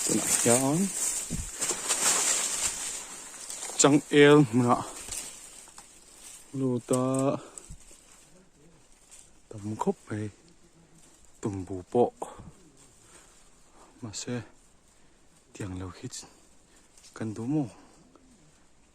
tunah hian changel hmuna luta tam khawp mai tumbu pawh mahse tiang lo hi kan duh maw.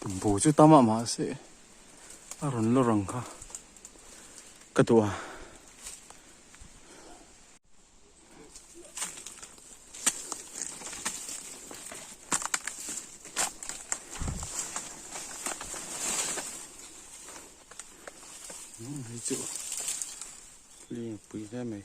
Tumpu chu tam a mah se a rawn lo rang kha ka duh a. chu lia pui hle mai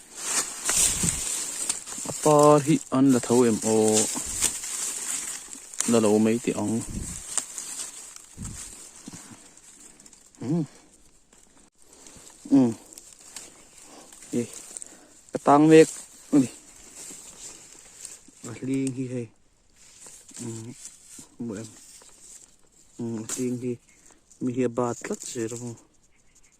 a pa hi an la tho em aw la lo mai teh ang um um e ka tang mek ani a hling hi hei um mu em um hling hi mi hi a bat tlat zel ang.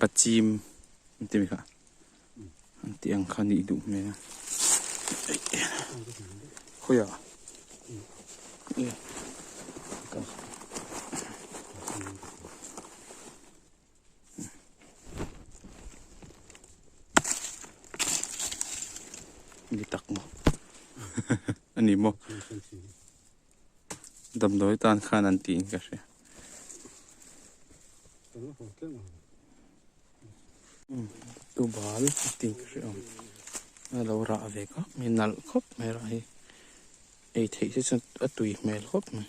Bachim an ti mai kha. An ti ang kha nih duh hmel a. Khoi a. Ni tak mo. Ani mo. Damdawi tan khan an tiin ka hria. Tu bal tiin ka hria. Ngai lo rah ve ka mi nal khop mai rah hi. Ei thei se chun a tui hmel khop mai.